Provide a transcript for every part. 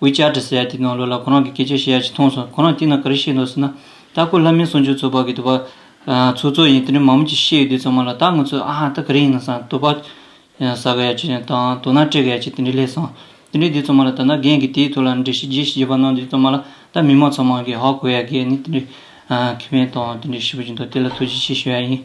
དབུས་བཅར་དྲི་ཟའི་དེ་དང་ལོ་ལ་ཁོ་རང་གི་སྐད་ཆའི་ཤེས་ཡ་ཅིག་མཐོང་སོང་ཁོ་རང་དེ་ན་ག་རེ་བཤད་འདུག་ཟེར་ན། ལྟ་སྐོར་ལྷ་མིའི་གསུང་ཆོས་ཚོགས་པ་གི་དུ་བ། ཚོགས་གཙོ་ཡིན་དེ་ནས་མང་མོ་ཅིག་བཤད་ཡོད་དུས་ཚང་མ་ལ་ད་ང་ཚོས་ཨ་ཧ་ད་ག་རེ་ཡིན་ན་སང་དུ་བ། ཟ་ག་ཡ་ཅིག་དང་དུ་སྣ་སྤྲད་ག་ཡ་ཅིག་དེ་འདྲས་ལས་སང། དེ་འདྲས་དུས་ཚང་མ་ལ་ད་ན་རྒན་གི་དེའི་ཐོག་ལ་འདྲེ་ཞིག་རྗེ་ཞིག་རྗེ་བ་གནང་དུས་ཚང་མ་ལ་ད་མི་མང་ཚང་མ་གི་ཧ་གོ་ཡ་གི་ནི་དེ་འདྲས། ཁེ་ཕན་དང་དེ་འདྲས་ཞིབ་པོ་ཅིག་འདུག་དེ་ལ་ཐུགས་རྗེ་ཆེ་ཞུ་ཡ་ཡིན།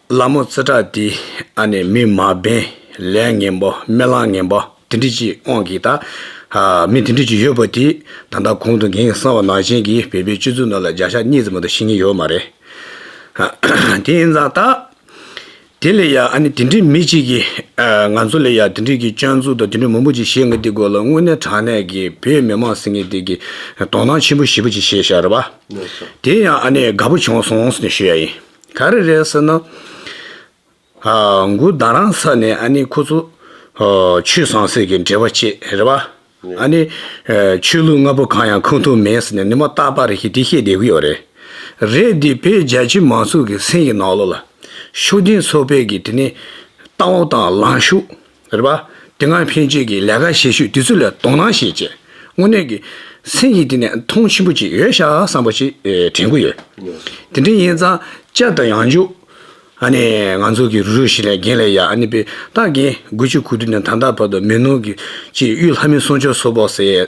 ལ་མོ་ཙི་ཏྲ་ཏི་ཨ་ནི་མི་མ་བེན་ལས་ངན་པོ་སྨེ་གླང་ངན་པོ་དེ་འདྲི་གཅིག་དབང་གིས་ད་མི་དེ་འདྲི་གཅིག་ཡོད་པོ་དེ་ད་ལྟ་གོང་དུ་འགན་གསང་བ་ནག་ཅན་གྱིས་བོད་པའི་སྤྱི་ཚུགས་ནང་ལ་བརྒྱ་ཆ་གཉིས་ཙམ་མ་ཏོ་ཤི་ངེས་ཡོད་མ་རེད་དེ་ཡིན་ཙང་ད་དེ་ལས་ཡག་ཨ་ནི་དེ་འདྲི་མི་གཅིག་གི་ང་ཚོ་ལས་ཡག་དེ་འདྲི་གི་སྤྱང་ཚུགས་དང་དེ་འདྲི་མང་པོ་གཅིག་བཤད་ངེས་དེ་དགོས་ལ་དངོས་གནས་དྲང་གནས་ཀྱི་བོད་མི་མང་ཟེར་ངེས་དེ་གི་དོ་སྣང་ཆེན་པོ་ཞེ་པོ་གཅིག་བྱེད་ཤར་བ་དེ་ཡང་ཨ་ནི་དགའ་པོ་བྱུང་སོང་ཟེར་ནས་ཞུ་ཡ་ཡིན། ག་རེ་རེད་ཟེར་ན། མགུར་བདག་རང་ས་ནས་ཨ་ནི་ཁོ་ཚོ། ཆོས་བཟང་ཟེར་གི་འབྲེལ་བ་བཅད་རེད་བ། ཨ་ནི། ཆོས་ལུགས་ལྔ་པོ་གང་ཡང་ཁུངས་ཐུབ་མེད་ཟེར་ནས་ནི་མ་བརྟག་པ་རེད་ཤི་དེ་བཤད་བསྡད་གི་ཡོད་རེད། རེད་དེ་བས་རྒྱལ་སྤྱིའི་མང་ཚོགས་ཀྱི་སེམས་ཀྱི་ནང་ལོག་ལ། ཤུགས་ལྡན་ཚོགས་པས་ཀྱི་དེ་ནི། ལྟ་བ་དང་ལངས་ཤུགས། རེད་པ། དེ་སྔར་ཕན་ཆད་ཀྱི་ལས་ཀ་བྱེད་ཤུལ་དེ་ཚོ་ལ་དོ་སྣང་བྱེད་ཆེད་དངོས་གནས་ཀྱི་སེམས་ཀྱི་སྟེང་ནས་མཐོང་ཆེན་པོ་ཅིག་ཡོད་ཤག་བསམ་པ་ཞིག་དྲན་གི་ཡོད། དེ་འདྲ་ཡིན་ཙང་སྐྱབས་དང་ཡང་འཇུག་ཨ་ནི་ང་ཚོ་གི་རུ་རུ་ཞིག་ལས་རྒན་ལས་ཡག་ཨ་ནི་པས་ཏག་གིས་དགུ་བཅུ་གོ་དྲུག་ནས་ད་ལྟ་བར་དུ་མི་ནོར་གྱི་ཅིག་གཡུ་ལྷ་མོའི་གསུང་ཆོས་སོགས་པོ་ཟེར།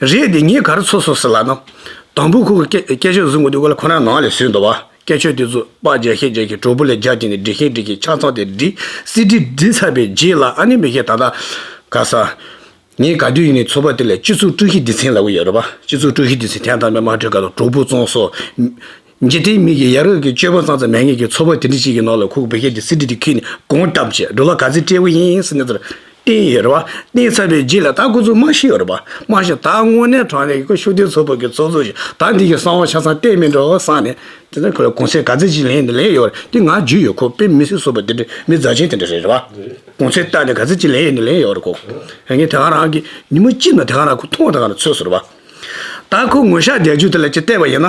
རེད་དེ་ངས་གར་ཚོ་སོ་སོ་ལ་ནོ། དང་པོ་ཁོ་གིས་སྐད་ཆོས་བཟོ་དགོས་དུས་གོ་ལ་ཁོ་རང་ནང་ལས་ཟོས་འདུག་བ། སྐད་ཆོས་དེ་ཚོ་པགས་རྒྱག་ཤེས་རྒྱག་ཤེས་གྲོགས་པོ་ལས་རྒྱག་གྱིན་ནས་འབྲི་ཤེས་འབྲི་གྱིན་ཆ་ཚང་དེ་འབྲི། སི་འབྲི་འབྲི་ཚར་པའི་རྗེས་ལ་ཨ་ནེ་མི་ཤེས་ད་ལྟ་ག་ས། ངས་ག་དུས་ཡིན་ནས་ཚོ་པ་དེ་ལས་སྤྱི་ཚོགས་དཀྲུག་ཤིང་སྡེ་ཚན་ལ་འུ་ཡོད་རེད་བ། སྤྱི་ཚོགས་དཀྲུག་ཤིང་སྡེ་ཚན་ཐད་ལྟ་མས་མ་འཁྲུལ་ག་ལ་གྲོགས་པོ་བཙོང་སོ། རྗེ་བསྟན་མིག་གིས་ཡ་རབས་ཀྱི་སྤྱོད་པ་གཙང་ཙམ་མེད་ངེས་ཀྱི་ཚོར་བ་དེ་འདྲི་གཅིག་གི་ནང་ལ་ཁུག་བེ་ཁྱེད་ཀྱི་སྲིད་ཁྲི་དེ་ཁྱེད་ནས་དགོངས་གཏམ་བཅས་འགྲོ་ལ་ག་ཚད་སྤྲེལ་བོ་ཡིན་ཟེར་ནས་དེར་བསྟན་ཡོད་རེད་བ་བསྟན་ཚར་བའི་རྗེས་ལ་ད་ཁོ་ཚོ་སྨྲ་ཤེས་ཡོད་རེད་བ་སྨྲ་ཤེས་ད་དངོས་གནས་དྲང་གནས་ཀྱི་ཁོ་ཤུགས་ལྡན་ཚོགས་པ་གི་ཚོགས་གཙོ་ཞིག་ད་འདི་གི་གསང་བ་ཆ་ཚང་བསྟན་མི་འགྲོ་བསམ་ནས་དེ་ནས་ཁོ་ལ་གུང་ཚན་ག་ཚད་ཅིག་ལེན་ནས་ལེན་ཡོད་རེད་དེ་ང་རྒྱུས་ཡོད་ཁོ་དཔེ་མི་སྲིད་བཟོ་བ་དེ་འདྲ་མི་རྫ་ཆེན་དེ་འདྲ་རེད་བ་གུང་ཚན་བཏགས་ནས་ག་ཚད་ཅིག་ལེན་ཡོད་ནས་ལེན་ཡོད་རེད་ཁོ་ངས་དེ་ག་རང་གི་ཉིན་མོ་གཅིག་ནང་དེ་ག་རང་ཁོ་མཐོང་བ་དང་ག་རང་ཚོད་ཟེར་བ་ད་ཁོ་ངོ་ཤ་རྒྱག་རྒྱུ་དེ་ལ་ཅིག་བལྟས་པ་ཡིན་ན།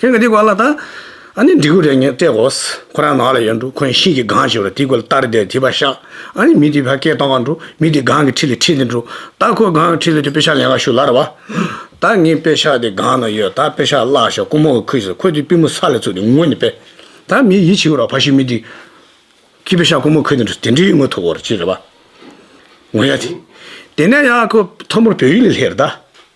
ཁྱེད་ཀྱིས་དེ་གོ་ལ་ད། ཨ་ནི་འབྲི་གུ་རེ་ངས་སྤྲད་གོ། ཁོ་རང་ནགས་ལ་ཡར་འགྲོ་ཁོས་ཤིང་གི་སྒང་ཞིག་ལ་དེ་གོ་ལ་ལྟར་བསྡད་དེ་བ་ཤ། ཨ་ནི་མི་དེ་བ་སྐད་གཏོང་ག་འགྲོ་མི་དེ་སྒང་གི་ཁྲི་ལ་ཁྲིད་དེ་འགྲོ། ད་ཁོས་སྒང་གི་ཁྲི་ལ་དེ་དཔེ་ཤག་ལེན་ག་ཞུ་ལར་བ། ད་ངས་དཔེ་ཤག་དེ་སྒང་ན་ཡོད་ད་དཔེ་ཤག་བཀླག་ཞོག་ཀུ་མོ་གིས་ཁུས་ཟེར་ཁོས་དེ་པུས་མོ་ས་ལ་བཙུགས་ཏེ་ངུ་ནས་བས། ད་མི་ཡིད་ཆེས་རོགས་ཕ་ཤུལ་མི་དེ། ཁྱི་དཔེ་ཤག་ཀུ་མོ་ཁུས་དེ་འགྲོ་དེ་འདྲའི་ངུ་ཐུབ་བོར་ཅི་རེད་བ། ངུ་ཡ་དེ། དེ་ནས་ཡང་ཁོས་མཐོ་མོར་བོད་ཡིག་ལ་ལྷེར་ད།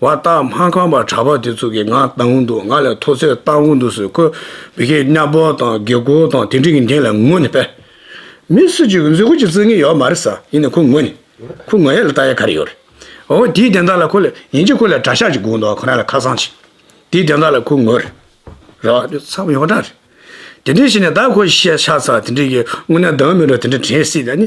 བ་རྟགས་མ་ཁང་པར་གྲགས་པ་དེ་ཚོ་གི་ང་བཏང་གི་འདུག་ང་ལ་མཐོ་ཚད་བཏང་གི་འདུག་ཟེར་ཁོས་བི་ཁེ་གཉའ་སྤོ་དང་དགེ་སྐོར་དང་དེ་འདྲི་གི་འདན་ལ་ངུ་ནས་པས། མི་སུ་གཅིག་གི་མཛོད་སྒོ་གཅིག་བརྩིག་ངེས་ཡོད་མ་རེད་ས་ཡིན་ནས་ཁོ་ངུ་ནས། ཁོ་ངུ་ཡ་ལ་ལྟ་ཡ་ག་རེ་ཡོད་རེད། འོ་དེའི་འདན་དག་ལ་ཁོ་ལ་ཡིན་གཅིག་ཁོ་ལ་དགྲ་ཤ་གཅིག་སྒུག་འདུག་ཁོ་རང་ལ་ཁ་སང་གཅིག་དེའི་འདན་དག་ལ་ཁོ་ངུ་རེད། རེད་བ། འདི་ཚང་མ་ཡོངས་གྲགས་རེད། དེ་འདྲི་བྱས་ནས་ད་ཁོ་ཤ་ཚ་དེ་འདྲི་གི་ངུ་ན་སྡང་མི་འགྲོ་དེ་འདྲི་དྲན་སྲིད་ད་ནི།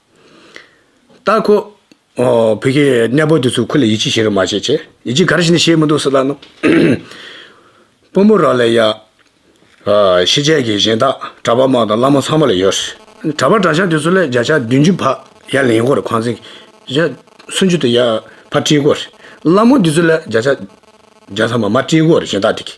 ལྟ་ཁོ། བོད་ཀྱི་གནས་སྤོ་དེ་ཚོས་ཁོ་ལ་ཡིད་ཆེས་བྱེད་རོགས་མ་བྱེད་ཅེས་ཡིད་ཆེས་ག་རེ་བྱས་ནས་བྱས་མི་འདུག་སི་ལ་ནུ། སྤོ་མོ་ར་ལས་ཡ། ཤེས་བྱའི་དགེ་བཤེས་དག་གྲྭ་པ་མང་དང་བླ་མ་ཚང་མ་ལ་ཡོད་རེད། གྲྭ་པ་གྲྭ་ཤག་དེ་ཚོ་ལས་བརྒྱ་ཆ་བདུན་ཅུ་བར་ཡར་ལེན་དགོས་རེད་ཁང་ཚན་གྱི་སུམ་ཅུ་དེ་ཡར་བར་བཀྲིས་དགོས་རེད། བླ་མོ་དེ་ཚོ་ལས་བརྒྱ་ཆ་བརྒྱ་ཚང་མ་མར་བཀྲིས་དགོས་རེད་གཞན་དག་དེ་གིས།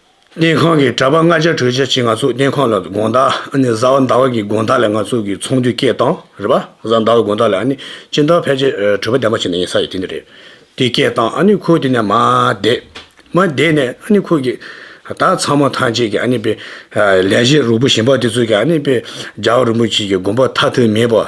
སྨན་ཁང་གི་གྲྭ་པ་ལྔ་བརྒྱ་དྲུག་བརྒྱ་ཅིག་ང་ཚོ་སྨན་ཁང་ལ་དགོངས་དག་ཨ་ནི་བཟའ་བ་འདའ་བ་གི་དགོངས་དག་ལས་ང་ཚོ་གི་ཚོང་འདུས་སྐད་བཏང་རེད་པ་བཟའ་འདའ་བ་དགོངས་དག་ལས་ཨ་ནི་སྤྱིན་བདག་ཕལ་ཆེར་གྲོད་པ་ལྡེམ་པ་བྱེད་ནས་ཡིན་ས་ཡི་དེ་འདི་རེད་དེ་སྐད་བཏང་ཨ་ནི་ཁོ་དེ་ནས་མ་བསྡད། མ་བསྡད་ནས་ཨ་ནི་ཁོ་གི་ད་ཚང་མ་ཐམས་ཅད་ཀྱི་ཨ་ནི་དཔེ་ལས་གཞི་རུ་པོ་ཞིམ་པ་དེ་ཚོ་གི་ཨ་ནི་དཔེ་རྒྱ་བ་རུ་པོ་ཆེ་གི་དགོངས་པ་མཐའ་དོན་མེད་པ།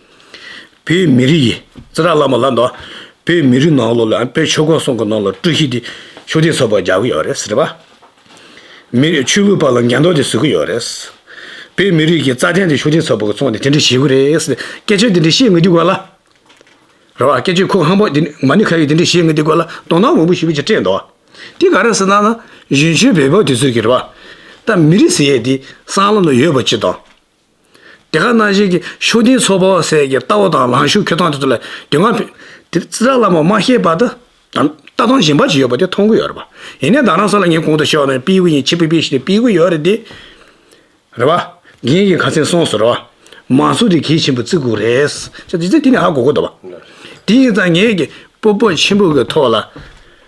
བོད་མི་རིགས་ཀྱི་རྩེ་གྲ་བླངས་པ་ལ་འདོད། བོད་མི་རིགས་ནང་ལོགས་ལ་བོད་ཆོས་གོང་སོང་གི་ནང་ལ་ཀྲུའུ་ཞི་དེ་ཆོས་དད་ཚོགས་པར་རྒྱག་གི་ཡོད་རེད་ཟེར་བ། མི་རིགས་ཆོས་ལུགས་པ་ལ་འགན་འདོགས་ཏེ་ཟུག་གི་ཡོད་རེད། བོད་མི་རིགས་ཀྱི་རྩ་དོན་དེ་ཆོས་དད་ཚོགས་པ་གི་ཚོགས་ནས་དེ་འདྲ་བྱེད་གི་རེད་ཟེར་སྐད་ཆོས་དེ་འདྲ་བཤད་ངེས་དེ་དགོས་ལ། རེད་བ། སྐད་ཆོས་ཁུག་ཧམ་པོ་དེ་འདྲ་མ་ཎི་ཁ་ཡོད་དེ་འདྲ་བཤད་ངེས་དེ་དགོས་ལ་དོ་སྣང་མང་པོ་ཞུ་གི་ཅི་སྤྲད་འདོད། དེ་ག་རེད་ཟེར་ན་ན་གཞོན་ཆོས་བོད་པ་དེ་ཚོས་ཀྱི་རེད་བ། ད་མི་རིགས་ཟེར་ཡས་དེ་སྲང་ལམ་ན་ཡོད་པ་ཅི་དང། དེ་ག་ན་བཞིན་གྱི་ཤུགས་ལྡན་ཚོགས་པ་བ་སའི་གྱི་ལྟ་བ་དང་ལངས་ཤུགས་འཁྱོལ་སྟངས་དེ་ཚོ་ལ་དེ་སྔ་བོད་དེ་རྩི་བདག་བླ་མ་མ་ཤེས་པ་དང་ལྟ་སྟངས་གཞན་པ་ཞིག་ཡོད་པ་དེ་མཐོང་གི་ཡོད་རེད་པ། ཡིན་ནའི་བདག་རང་ས་ལ་ངས་གོང་དུ་བཤད་བ་ནི་སྤེལ་གི་ཡིན་ཕྱི་པི་པི་ཞིག་ནས་སྤེལ་གི་ཡོད་རེད་དེ། རེད་པ། དགེ་རྒན་གྱི་ཁ་ཚན་སོང་ཟེར་བ། མང་ཚོགས་དེ་གལ་ཆེན་པོ་བརྩི་གི་རེད། ཅེས་དེ་ནས་ཧ་གོ་གི་འདུག་བ། དེ་ཡིན་ཙང་ངས་ཀྱི་སྤོབས་པ་ཆེན་པོ་གི་ཐོག་ལ།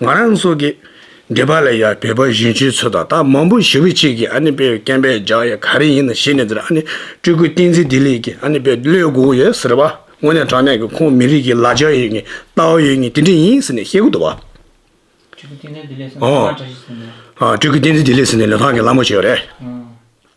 ང་རང་སོགས་ཀྱིས་འདི་པ་ལ་ཡང་བོད་པ་གཞོན་སྐྱེས་ཚོ་དང་ད་མང་པོ་ཞི་བུ་གཅིག་གིས་ཨ་ནི་པའི་རྐན་པས་བརྒྱག་ཡ་ག་རེ་ཡིན་ན་ཤེས་ནས་འདིར་ཨ་ནི་སྤྲུལ་སྐུ་བསྟན་འཛིན་བདེ་ལེགས་ཀྱིས་ཨ་ནི་པའི་བློས་བསྒུགས་ཡོད་ཟེར་བ་དངོས་གནས་དྲང་གནས་ཀྱི་ཁོང་མི་རིགས་ཀྱི་ལ་རྒྱ་ཡོད་ངེས་ལྟ་བ་ཡོད་ངེས་དེ་འདྲས་ཡིན་ཟེར་ནས་བཤད་ཁུལ་དུ་བ། སྤྲུལ་སྐུ་བསྟན་འཛིན་བདེ་ལེགས་ཟེར་ནས་ལྷ་ཁང་གྲ་ཞིག་བཟོས་ནས། སྤྲུལ་སྐུ་བསྟན་འཛིན་བདེ་ལེགས་ཟེར་ནས་ལྷ་ཁང་གི་ལྷ་མོ་བྱས་པ་རེད།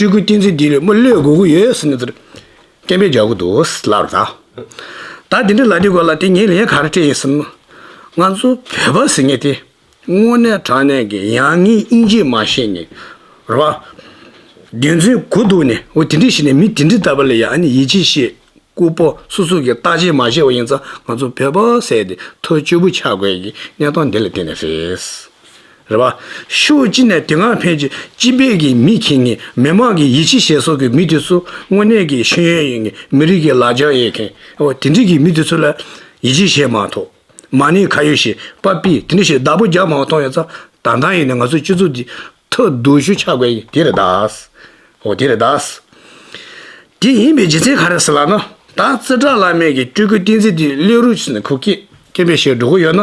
སྤྲུལ་སྐུའི་ཏིང་འཛིན་འདི་ལས་དམུ་བློས་དགོས་ཀྱི་ཡོད་ཟེར་ནས་དེར་སྐད་འབོད་རྒྱག་གི་འདུག་ལབ་ལ། ད་དེ་འདྲའི་ལ་འདི་དགོས་ལ་དེ་ངས་ལན་ག་རེ་སྤྲད་ཡིན་སེམས། ང་ཚོ་བོད་པ་ཟེར་ངེས་དེ་དངོས་གནས་དྲང་གནས་ཀྱི་ཡ་ངའི་དབྱིན་ཇི་མ་ཤེས་ནས་རེད་བ། རྒྱུ་མཚན་གོ་འདུག་ནས་འོ་དེ་འདྲས་ཤེས་ནས་མི་དེ་འདྲས་ལྟ་བ་ལས་ཡ་ནས་ཡིད་ཆེས་བྱེད་སྐུ་པོ་སོ་སོ་གི་རྟགས་ཅན་མ་ཤེས་བ་ཡིན་ཙང་ང་ཚོ་བོད་པ་ཟེར་ཏེ་ཐོ་ཅོ་བུ་ཆགས་དགོས་ཀྱི་གནས་སྟངས་འདི་ལ་བརྟེན་ནས་རེད། རེད་པ། ཤོག་སྤྱི་ནས་དེ་སྔ་ཕན་ཆད་སྤྱི་ཕན་གྱི་མི་ཁྱེད་ངེད་མི་དམངས་ཀྱི་ཡིད་ཆེས་བྱེད་སོགས་ཀྱི་མི་དེ་ཚོ་དངོས་གནས་ཀྱི་ཤེས་ཡོན་ཡིན་ངེད་མི་རིགས་ཀྱི་ལ་རྒྱ་ཡོད་མཁན་འོ་དེ་འདྲིས་ཀྱི་མི་དེ་ཚོ་ལ་ཡིད་ཆེས་བྱེད་མ་ཐོག་མ་ནི་ཁ་ཡོད་ཞེས་པ་པི་དེ་འདྲི་ཞེས་བདག་པོ་རྒྱག་མང་བ་མཐོང་ཡོད་ཙང་ད་ལྟ་ཡིན་ནའི་ང་ཚོའི་སྤྱི་ཚོགས་འདི་ཐ་དུ་ཞུ་ཆ་དགོས་ཡིན་དེ་རེད་དཱ། འོ་དེ་རེད་དཱ། དེ་ཡིན་པའི་རྗེ་བཙན་ག་རེ་ཟེར་ལགས་ན་ད་བཙིར་བྲག་བླ་མེད་ཀྱི་སྤྲུལ་སྐུ་བསྟན་འཛིན་དེ་གླེ་རུ་ཆུ་ནས་ཁུག་སྐད་སྐད་འབེ་ཞེས་སྒྲོག་གི་ཡོད་ན།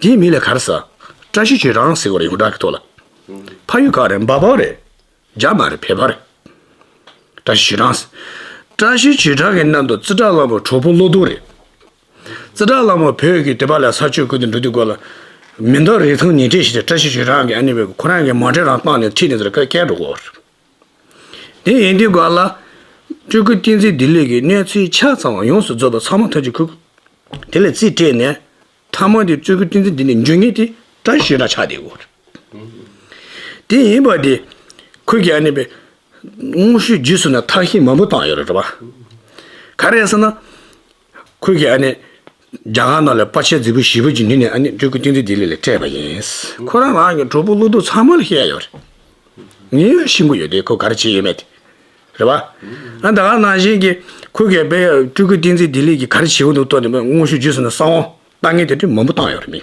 དེའི་མིང་ལས་གར་ས། བཀྲ་ཤིས་ཀྱི་རང་ཟེར་བ་རེད་ཡོངས་གྲགས་ཀྱི་ཐོག་ལ། ཕ་ཡུལ་ག་རེད་འབའ་བོ་རེད། རྒྱ་མ་རེད་བལ་བ་རེད། བཀྲ་ཤིས་ཀྱི་རང་ཟེར། བཀྲ་ཤིས་ཀྱི་རང་གི་གནམ་དུ་རྩི་བྲག་གླང་པོ་གྲོགས་པོ་བློ་སྡུག་རེད། རྩི་བྲག་གླང་པོ་བོད་ཀྱི་དེ་བ་ལ་ས་སྤྱོད་ཀུན་ཏུ་འགྲོ་དུས་སྒོ་ལ། མི་འདང་རེ་ཐང་ཉིས་སྤྲད་བྱས་ཏེ་བཀྲ་ཤིས་ཀྱི་རང་གི་ཨ་ནེ་བས་ཁོ་རང་གི་མ་འདྲེ་རང་བཏང་ནས་ཐིག་ནས་དེར་ཁ་སྐད་སྒྲོག་གོ། དེ་ཡིན་དུས་སྒང་ལ། སྤྲུལ་སྐུ་བསྟན་འཛིན་བདེ་ལེགས་ཀྱིས་གནས་ཚུལ་ཆ་ཚང་བ་ཡོངས་སུ་རྫོགས་པ་ཚང་མ་ཐག་གཅོད་ཁུག་དེ་ལ་རྩིས་སྤྲད་ནས། ཐ་མ་དེ་སྤྲུལ་སྐུ་བསྟན་འཛིན་བདེ་ལེགས་འཇུག་ངེས་དེ་བཀྲ་ཤིས་ར་ཆགས་དེའི་སྐོར། དེ་ཡིན་པ་དེ། ཁོས་ཀྱང་གནས་པའི། དངོས་བཤུས་རྗེས་སུ་ན་ཐག་ཤིང་མང་པོ་བཏང་ཡོད་རེད་བ། ག་རེ་ཟེར་ན། ཁོས་ཀྱིས་ཨ་ནི། རྒྱ་གར་ནང་ལས་པ་ཆེ་རྫི་བོ་བཞི་བོ་གྱི་མི་ནི་ཨ་ནི་སྤྲུལ་སྐུ་ཏིང་འཛིན་ལྡི་ལི་ལས་སྤྲད་པ་ཡིན། ཁོ་རང་རང་གི་གྲོགས་པོ་ཀླུ་གདུག་ཚང་མ་ལ་བཤད་ཡོད་རེད། ངའི་ཡང་ཤི་འགོ་ཡོད་དེ་ཁོས་ག་རེ་བྱས་ཡོད་མེད་དེ། རེད་བ། ཨ་ད་ག་ནང་བཞིན་གྱི་ཁོས་ཀྱིས་པས་སྤྲུལ་སྐུ་ཏིང་འཛིན་ལྡི་ལི་གྱིས་ག་རེ་བྱས་ཡོད་འདུག་ལྟོས་ནས་མངོན་ཤུགས་བརྒྱུད་སོང་ན་ས་དབང་ལྟ་ངན་དེ་འདྲའི་མང་པོ་བཏང་ཡོད་རེད་མི།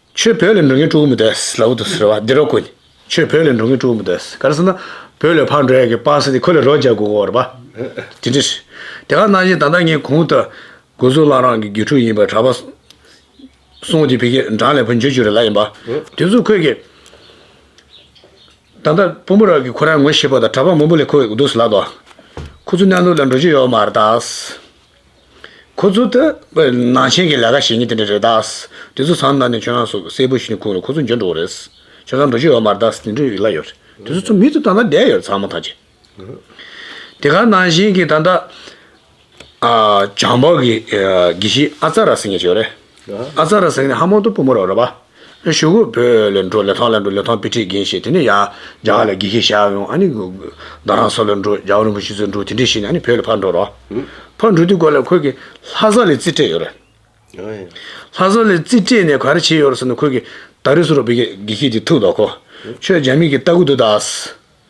ཆོས་བོད་ལས་འགྲོ་མཁན་དཀྲུག་མི་དགོས་ལབ་བོ་དུ་ཟེར་བ་འདི་རོ་དཀོན། ཆོས་བོད་ལས་འགྲོ་མཁན་དཀྲུག་མི་དགོས་ག་རེ་ཟེར་ན། བོད་ལས་ཕར་འགྲོ་ཡག་གི་སྤ་སེ་དེ་ཁོ་ལས་རོ་རྒྱག་དགོས་གོ་རེད་པ། དེ་འདྲ་རེད། དེ་ག་གནང་བཞིན་ད་ལྟ་ངས་གུང་ཐུ། གུ་གཟུགས་བླ་རང་གི་རྒྱུད་ཕྲུག་ཡིན་པ་གྲ་པ། སོང་དེ་བི་ཀེ་འབྲང་ལས་བུ་འཇོ་ཅུ་རེ་ལ་ཡིན་པ། དེ་ཚོ་ཁོས་གི། ད་ལྟ་བུ་མོ་རང་གི་ཁོ་རང་ངོ་ཤེས་པོ་དང་གྲ་པ་མང་པོ་ལས་ཁོ་གི་འདུག་ཟེར་ལབ་དོ། ཁོ་ཚོ་གནས་ནོར་ལ་འགྲོ་རྒྱུ་ཡོད་མ་རེད་ད། ཁོ་ཚོ་ལྟ་བུའི་ནང་ཆེན་གྱི་ལས་ཀ་བྱེད་མཁན་དེ་འདྲ་རེད་དཱ། དེ་ཚོ་ཚང་མདའ་ནས་ཁྱོད་རང་སོགས་གསལ་པོ་ཞིག་ཁུངས་ལ་ཁོ་ཚོ་འཇོན་འགྲོ་རེད། ཁྱོད་རང་འགྲོ་རྒྱུ་ཡོད་མ་རེད་དཱ་འདི་འདྲ་ཡིག་ལ་ཡོད་རེད། དེ་ཚོ་ཚོ་མི་ཚོ་ད་ལྟ་བསྡད་ཡོད་རེད་ཚང་མ་ཐག་བཅད། དེ་ག་ནང་ཆེན་གྱི་ད་ལྟ་བྱང་འཕགས་ཀྱི་དགེ་བཤེས་ཨ་ཙཱ་ར་སེང་གེ་ཞེས་ཡོད་རེད། ཨ་ཙཱ་ར་སེང་གེ་ནི་ཧ་མོ་ཏོ་བུ་མོ་རེད་པཱ། ཞུ་གུ་བོད་ལས་འགྲོ་ལས་ཐང་ལས་འགྲོ་ལས་ཐང་བི་ཁྲིད་རྒན་ཞེས་དེ་ནས་ཡ་རྒྱ་ག་ལ་དགེ་རྒན་ཞག་ཡོང་ཨ་ནི་རྡ་རང་ས་ལ་འགྲོ་རྒྱ་གར་རིན་པོ་ཆེ་ཚོ་འགྲོ་དེ་འདྲས་ཤེས་ནས་ཨ་ནི་བོད་ལ་ཕར་འགྲོ་རོགས། ཕར་འགྲོ་དུས་གོ་ལ་ཁོས་ཀྱི་ལྷ་ས་ལས་རྩིས་སྤྲད་ཡོད་རེད། ལྷ་ས་ལས་རྩིས་སྤྲད་ནས་ག་རེ་བྱས་ཡོད་རེད་ཟེར་ན་ཁོས་ཀྱི་ད་རེས་སུ་རོགས་བི་ཁྲིད་དེ་ཐུག་འདོག་གོ། ཁྱོད་རྒྱ་མི་གི་ལྟ་གུ་འདུག་ད།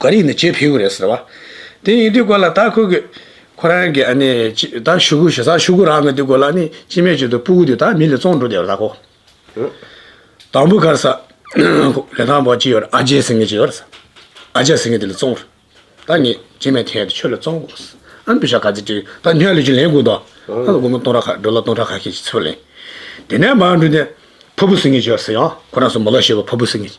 ག་རེ་ཡིན་ནི་ཇེ་ཕེའུ་རེད་ཟེར་བ། དེ་ཡིན་དུས་སྐོར་ལ་ད་ཁོ་གི། ཁོ་རང་གི་ཨ་ནི། ད་ཞུ་གུ་ཞུ་ས་ཞུ་གུ་རང་གི་དུས་སྐོར་ལ་ནི་ཅི་མེད་བྱོས་དུས་སྤུ་གུ་དུས་ད་མི་ལི་བཙོང་འགྲོ་དེ་ར་ཁོ། དང་པོ་གར་ས། ལི་ཐང་བོ་ཅི་ཡོད་ཨ་ཇེ་ཟེར་ངེས་ཅི་ཡོད། ཨ་ཇེ་ཟེར་ངེས་དེ་ལི་བཙོང། ད་ངེས་ཅི་མེད་ཐེངས་དེ་ཆོས་ལི་བཙོང་དགོས། ཨ་ཕི་ཤ་ག་ཚི་ཏུས་ད་ཉག་ལི་ཅུ་ལེན་དགོས་དོ། ད་ལ་སྒོར་མོ་སྟོང་ར་ཁ་འགྲོ་ལ་སྟོང་ཕྲག་ཁ་ཤས་ཀྱི་ཚེ་བ་ལེན། དེ་ནས་མར་འགྲོ་དེ། ཕ་བུ་ཟེར་ངེས་ཅི་ཡོད་ཟེར་ཡང་ཁོ་རང་སོ་མོ་ལ་ཞེས་པ་ཕ་བུ་ཟེར་ངེས།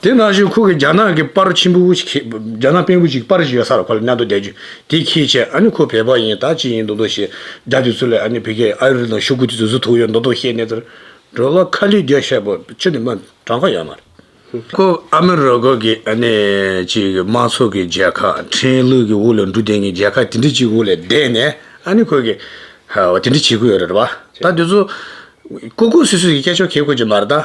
དེ་ནང་བཞིན་ཁོ་གིས་རྒྱ་ནག་གི་པར་ཆེན་པོ་ཞིག་རྒྱ་ནག་པན་པོ་ཅིག་པར་ཞིག་ཡོད་ས་རུ་ཁོ་ལ་གནང་འདུག་བསྡད་རྒྱུ་དེ་ཁྱེད་བྱས་ཨ་ནི་ཁོ་བལ་པོ་ཡིན་ད་ཅི་ཡིན་འདུག་འདུག་ཞེས་རྒྱ་དེ་ཚོ་ལས་ཨ་ནི་བལ་གྱི་ཨ་རི་དང་ཤོ་ཀུ་དེ་ཚོ་ཟུ་ཐུག་ཡོད་འདུག་འདུག་ཤེས་ནས་དེར་འགྲོ་ལ་ཁ་ལི་རྒྱ་ཤ་པོ་ཆུ་དེ་མ་གྲང་ཁ་ཡོད་མ་རེད། ཁོ་ཨ་མི་རི་ཀ་གི་ཨ་ནི་ཅིག་གི་དམག་ཚོགས་ཀྱི་རྒྱལ་ཁ་ཁྲིན་ལུས་ཀྱི་དབུ་ལ་འབྲུ་དེངས་ཀྱི་རྒྱལ་ཁ་དེ་འདྲི་ཅིག་དབུ་ལས་བསྡད་ནས་ཨ་ནི་ཁོ་གིས་དེ་འདྲི་བྱེད་ཀྱི་ཡོད་རེད་བ་ད་དེ་ཚོ་ཀོ་ཀོ་སུས་སུས་ཀྱི་སྐད་ཆ་གོ་ཀོ་ཅིག་མ་རེད་ད།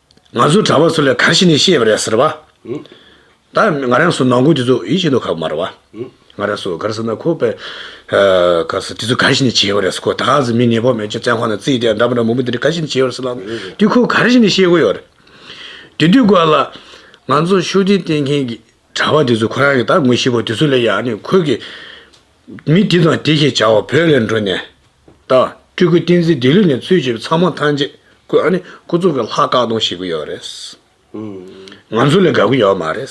ང་ཚོའི་གྲྭ་བ་ཚོ་ལས་གང་ཞིག་ནས་ཤེས་པ་རེད་ཟེར་བ། ད་ང་རང་སུ་ནང་ཁུལ་དེ་ཚོ་ཡིད་ཆེས་འདུག་ཁ་མར་བ། ང་རང་སུ་གར་སོང་ན་ཁོ་པས། ག་སེ་དེ་ཚོ་གང་ཞིག་ནས་བྱས་པ་རེད་ཟེར་ཁོ་ད་ག་ཟེ་མི་ཉེས་པོ་མེད་ཅེས་བཙན་ཁང་ནང་བརྩིས་ཏེ་འདྲ་པོ་འདྲ་མང་པོ་འདི་འདྲ་ག་ཞིག་ནས་བྱས་པ་རེད་ཟེར་ལབ། དེ་ཁོ་ག་རེ་ཞིག་ནས་ཤེས་དགོས་ཡོད་རེད། དེ་དུས་སྐོར་ལ། ང་ཚོ་ཤོག་དྲིལ་བསྟན་མཁན་གྱི་གྲྭ་བ་དེ་ཚོ་ཁོ་རང་གི་ད་ངོ་ཤེས་པ་དེ་ཚོ་ལས་ཡག་ནས་ཁོ་གི། མི་འདི་དང་འདི་ཞེས་བྱ་བ་བོད་ལས་འགྲོ་ནས། ད། སྤྲུལ་སྐུ་བསྟན་འཛིན་དེ་ལུས་ནས་ཚུལ་བྱེད་པའི་ཚང་མ་ཐམས་ཅད་སྐུ། ཨ་ནི་སྐུ་གཙུག་གི་ལྷ་བཀག་སྡོམ་བྱེད་ཀྱི་ཡོད་རེད། ང་ཚོ་ལས་དགའ་གི་ཡོད་མ་རེད།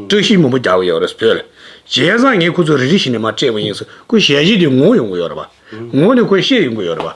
བཀྲ་ཤིས་མུན་པ་རྒྱག་གི་ཡོད་རེད་བོད། རྗེས་བཟང་ངས་ཁོ་ཚོ་རེ་རེ་བཞིན་ནས་མ་སྤྲད་པ་ཡིན། སྐུ་ཞལ་བཞི་དེ་ངོ་ཡོང་གི་ཡོད་རེད། ངོ་ནས་ཁོ་ཤེས་ཡོང་གི་ཡོད་རེད།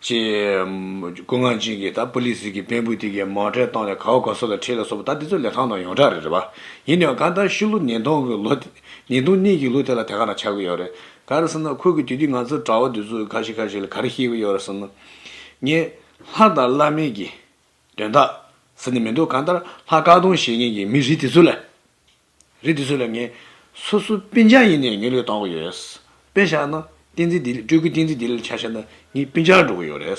ཅེས། སྐུ་ངག་འབྱིན་གྱིས་ད་པུ་ལི་སི་གི་བེན་བུ་དེ་གའི་མང་གྲས་བཏང་ནས་གའུ་ག་སོ་ལ་ཁྲིད་ལ་སོགས་པ་ད་དེ་ཚོ་ལས་ཐང་དང་ཡོངས་གྲགས་རེད་རེད་པ། ཡིན་ནའང་ག་ད་ཤི་ལོ་ཉིས་སྟོང་གི་ལོ་དེ། ཉིས་སྟོང་གཉིས་ཀྱི་ལོ་དེ་ལ་དེ་ག་ན་ཆགས་ཀྱི་ཡོད་རེད། ག་རེ་ཟེར་ན་ཁོ་གིས་དུས་དུས་ང་ཚོ་གྲྭ་བ་དེ་ཚོ་ག་ཞིག་ག་ཞིག་ལ་ག་རེ་བཤད་ཀྱི་ཡོད་རེད་ཟེར་ན། ངས། ལྷ་དང་བླ་མེད་ཀྱི། དོན་དག། ཟེར་ནས་མི་འདུག་ག་ད་ལྷ་བཀག་སྡོམ་བྱེད་མཁན་གྱི་མི་རིགས་དེ་ཚོ་ལ། རེད་དེ་ཚོ་ལ་ངས་སོ་སོ་པིན་ཅང་ཡིན་ནས་ངས་ལོས་བཏང་གི་ཡོད་རེད། དཔེ་བཞག་ན་བསྟན་འཛིན་བདེ་ལེགས་སྤྲུལ་སྐུ་བསྟན་འཛིན་བདེ་ལེགས་ལ་ཆ་བཞག་ན་ངས་པིན་ཅང་འགྲོ་གི་ཡོད་རེད།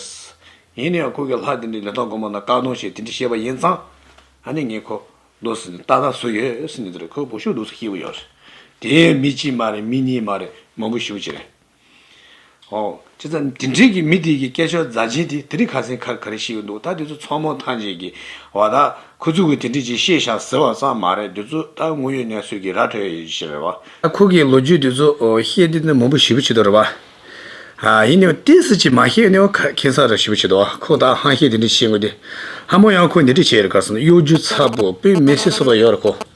ཡིན་ནའང་ཁོ་གིས་ལྷ་དེ་འདྲའི་ལས་དོན་དགོས་མ་གནང་བཀག་སྡོམ་བྱས་དེ་འདྲ་བྱས་པ་ཡིན་ཙང། ད་ནི་ངས་ཁོ་ལོ་ཟིན་ཏག་ཏག་བཟོས་ཡོད་ཟེར་ནས་འདི་རུ་ཁོའི་སྒོ་ཕྱུགས་ལུགས་སུ་སྐྱེལ་གི་ཡོད་རེད། དེ་ཡང་མི་གཅིག་མ་རེད་མི་གཉིས་མ་རེད་མང་པོ་བཞི་བོ་གཅིག་རེད། ཨོ། ཅི་ཙམ་འདི་འདྲས་ཀྱི་མི་དེ་ཀྱི་སྐད་ཆོ་རྫ་ཆེན་དེ་དེ་རིང་ཁ་སེང་ཁར་ག་རེ་ཤི་གི་འདུག་ད་དེ་ཚོ་ཚོགས་མོ་ཐང་ཆེན་གྱི་བ་ད་ཁོ་ཚོ་གི་དེ་འདྲས་ཀྱི་ཤེས་བྱ་ཟེར་བ་ཙམ་མ་རེད་དེ་ཚོ་ད་དངོས་ཡོད་གནས་ཚོད་ཀྱི་ར་འཕྲོད་ཡོད་ཤི་རེད་བ། ད་ཁོ་གི་ལོ་རྒྱུས་དེ་ཚོ་ཤེས་དེ་ནི་མང་པོ་ཞི་བུ་བྱེད་དོ་རེད་བ། ཡིན་ནའི་བ་དེ་སུ་གཅིག་མ་ཤེས་ནའི་བ་ཁེ་སང་ར་ཞི་བུ་བྱེད་དོ་ཁོ་ད་ཧང་ཤེས་དེ་འདྲས་བྱེད་དགོས་དེ། ཧ་མོ་ཡང་ཁོ་འདི་འདྲས་བྱེད་ཡོད་རེད་ག་སོང་གཡོ་སྒྱུ་ཚ་པོ་བོད་མི་སེ་སོ་པ་ཡོད་རེད་ཁོ།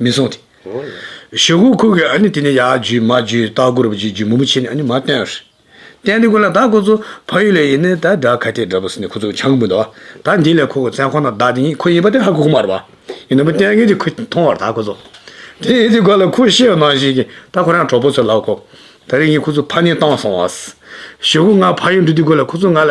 མི་གསུང་སྟེ། ཞེ་ཧུ་ཁུག་གིས་དེ་ནས་ཡར་བརྒྱུད་མར་བརྒྱུད་སྟག་སྒོར་བརྒྱུད་བརྒྱུད་མུ་མུ་བྱས་ནས་མར་བསྟན། བསྟན་ཏེ་དགོན་ལ་བདག་ཁོ་ཚོ་ཕ་ཡུལ་ལས་ཡིན་ད་དགྲ་ཁ་ཏའི་དགྲ་བོ་ཟེར་ནས་ཁོ་ཚོ་ཆང་འབུལ་འདུག་ད་འདི་ལས་ཁོ་ཁོ་བཙན་ཁོ་ན་བདག་དེ་ཉིད་ཁོ་ཡིན་པ་དེ་ཧ་གོ་གི་མ་རེད་བ། ཡིན་ནམ་བསྟན་མཁན་དེ་ཁོ་མཐོང་བར་ད་ཁོ་ཚོ། དེ་ཡིན་དེ་དགོན་ལ་ཁོ་ཤེས་ནང་བཞིན་གྱི་ད་ཁོ་རང་གྲོགས་པོ་ཚོ་ལགས་ཁོ། ད་རིང་ཡིན་ཁོ་ཚོ་ཕ་ནི་བཏང་སོང་བ། ཞེ་ཧུ་ང་ཕ་ཡུལ་འགྲོ་དུས་དགོན་ལ་ཁོ་ཚོ་ང་ལ།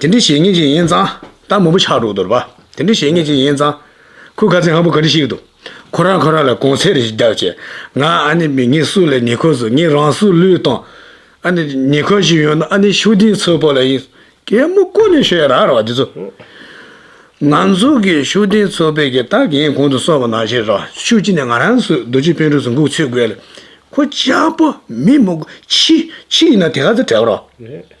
དེ་འདྲའི་བྱས་ཉེས་ཅན་ཡིན་ཙང་ད་མུ་པོ་ཆགས་འགྲོ་དོར་བ། དེ་འདྲའི་བྱས་ཉེས་ཅན་ཡིན་ཙང། ཁོས་ཁ་ཚིག་ཧམ་པོ་ག་རེ་བཤིག་འདུག། ཁོ་རང་ཁོ་རང་ལ་གོང་ཚད་རེ་ཞིག་བརྒྱག་ཅེས། ང་ཨ་ནེ་མི་ངས་སུ་ལ་ཉེ་ཁོ་བཟོ་ངས་རང་སུ་ལུས་བཏང། ཨ་ནེ། ཉེ་ཁོ་ཞིག་ཡོང་ན་ཨ་ནེ་ཤུགས་ལྡན་ཚོའི་བོ་ལ་ཡིན། གད་མོ་བཀོལ་ནས་ཤོད་ཡ་ར་ར་བ་འདི་ཚོ། ང་ཚོ་གི་ཤུགས་ལྡན་ཚོ་བོད་ཀྱི་སྟག་གཡས་གོང་དུ་སོང་བ་ན་ཤེས་རོགས་ཤུགས་ཅི་ནས་ང་རང་ཚོའི་རྡོ་རྗེ་དཔོན་གྲོས་སུ་འགུག་ཚུད་དགོས་ལ། ཁོ་ཅག་བོ་མི་མུག་ཕྱི་ཕྱི་ཡིན་ན་དེ་ག་ཚོད་བྲལ་བ་རོགས།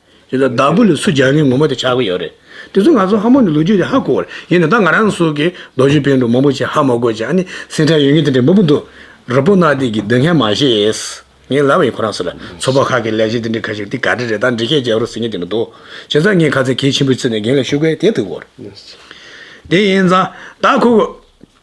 དེ་ལ་བདག་པོ་ལ་སུ་སྦྱར་ནས་ངོ་མ་དེ་ཆགས་ཀྱི་ཡོད་རེད། དེ་ཚོ་ང་ཚོ་ཧ་མོ་ནི་ལོ་རྒྱུས་དེ་ཧ་གོ་བར་ཡིན་ནི་ད་ང་རང་སོགས་ཀྱིས་རྡོ་རྗེ་དཔོན་དུ་མང་པོ་ཅིག་ཧ་མ་གོ་ཅིག་ཨ་ནི་སེང་ཁྲ་ཡོད་ངེས་དེ་འདྲའི་མ་བུ་འདུག་ར་པོ་ནག་ཏིག་གིས་སྡུག་བསྔལ་མ་བྱེད། ངས་ལབ་ཡིན་ཁོ་རང་ཚོ་ལ་ཚོགས་པ་ཁག་གི་ལས་བྱེད་དེ་འདྲའི་ཁ་ཤས་ཀྱིས་ག་འདྲ་རེད་ད་འདྲི་ཤེས་བྱས་རོགས་ཟེར་ངེས་དེ་མི་འདུག་བྱས་ཙང་ངས་ཁ་ཚ་གལ་ཆེན་པོའི་ཚུལ་ནས་རྒན་ལ་ཞུ་སྐལ་དེ་ཐུག་གོ་རེད། དེ་ཡིན་ཙང་ད་ཁོ།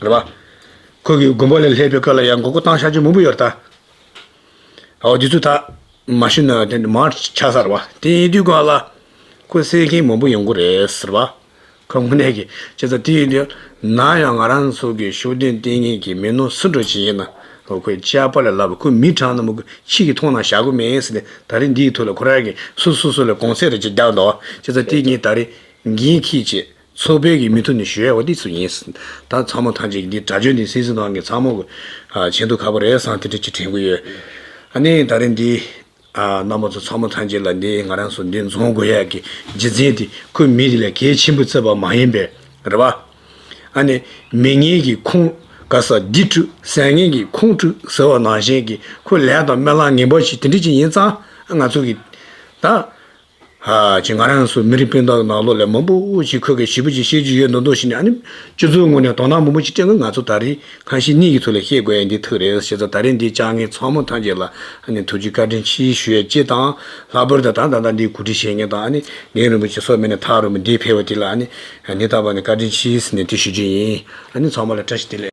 རེད་པ། ཁོ་གིས་མགོན་པོ་ལས་སླེབས་པའི་སྐབས་ལ་ཡང་མགོ་སྐོར་བཏང་ཤར་གྱི་མུ་བུ་ཡོད་རྟ། ཨོ་དེ་ཚོ་ད། མ་ཤི་ན་དེ་འདྲ་མར་ཆགས་ས་རེད་པ། དེ་ཡིན་དུས་གང་ལ། ཁོ་སེལ་མཁན་མང་པོ་ཡོང་གི་རེད་ཟེར་བ། ཁོ་དངོས་གནས་ཀྱི་ཆེ་ཚ་དེ་ཡིན་དུས། ན་ཡང་ང་རང་ཚོ་གི་ཤོག་སྟོན་ལྟས་ངན་གྱི་མི་ནོར་སུ་འགྲོ་བྱེད་ཡིན་ན། ཁོའི་ལྕགས་པར་ལས་སླ་བོ་ཁོའི་མི་གྲངས་ན་མོ་ཁྱི་གིས་མཐོང་ན་བཞག་གི་མེད་ཟེར་ནས་ད་རེས་འདིའི་ཐུགས་ལ་ཁོ་རང་གིས་སུ་སུ་སུ་ལ་གོང་ཚད་རེ་བཅས་རྒྱག་འདོད་ཨོ་ཅེ་ཚ་དེ་ཉིད་ད་རེས་འགན་ཁྱི་བྱེད། ཚོགས་དཔོན་གྱི་མི་ཐུབ་ནས་ཞུས་ཡ་བ་འདི་སུ་ཡིན། ད་ཚང་མ་ཐང་ཅིག་གི་འདི་དགྲ་བཅོས་འདི་སིང་སིང་ནང་གི་ཚང་མ་གོ། ཆེན་དུ་ཁ་པོ་རས་སང་ཐི་ཐི་ཅིག་དྲན་གི་ཡོད། ཨ་ནི་ད་རིང་འདི། རྣམ་པ་ཚོ་ཚང་མ་ཐང་ཅིག་ལ་འདི་ང་རང་སུ་འདི་རྫོང་དགོས་ཡ་གི་རྗེ་བཙན་དེ་ཁོའི་མི་དེ་ལས་གལ་ཆེན་པོ་བརྩེ་བ་མ་ཡིན་པས་རེད་བ། ཨ་ནི། མི་ངན་གྱི་ཁུང། ག་ས་འདི་བཀྲུས་ཟས་ངན་གྱི་ཁུང་བཀྲུས་ཟེར་བ་ནང་བཞིན་གྱི་ཁོའི་ལས་དང་སྨོན་ལམ་ངན་པ་ཞིག་དེ་འདྲི་ཅིག་ཡིན་ཙང་ང་ཚོ་གི། ད། ཅིག་ང་རང་སུ་མི་རིགས་སྤུན་ཟླ་ནག་ལོ་ལས་མང་པོ་ཞིག་ཁོ་གའི་བྱིས་པ་ཅིག་བཤད་རྒྱུ་ཡོད་མདོག་མདོག་བྱས་ནས་ཨ་ནི། ཁྱོད་ཚོའི་ངོས་ནས་དོ་སྣང་མང་པོ་ཅིག་སྤྲད་དགོས་ང་ཚོ་ད་རེས་ཁང་ཤིང་གཉིས་ཀྱི་ཐུགས་ལ་བཤད་དགོས་ཡ་འདི་ཐུགས་རེད་ཞེས་ད་རེས་འདི་བཅར་མཁན་ཚང་མ་ཐམས་ཅད་ལ་ཨ་ནི་ཐུགས་རྗེ་བཀའ་དྲིན་ཆེ་ཞུ་ཡ་ཅེས་དང། ལྷག་པར་དུ་ད་ད་ལྟ་འདིའི་གོ་སྒྲིག་བྱེད་མཁན་དང་ཨ་ནི་འགན་རིན་པོ་ཆེ་སོགས་མི་སྣ་ཐག་རིང་པོ་འདི་ཕེབས་པ་དེ་ལ་ཨ་ནི། ནི་ད་བར་ནས་བཀའ་དྲིན་ཆེ་ཟེར་ནས་དེ་ཞུ་རྒྱུ་ཡིན། ཨ་ནི་ཚང་མ་ལ་བཀྲ་ཤིས་བདེ་ལེགས།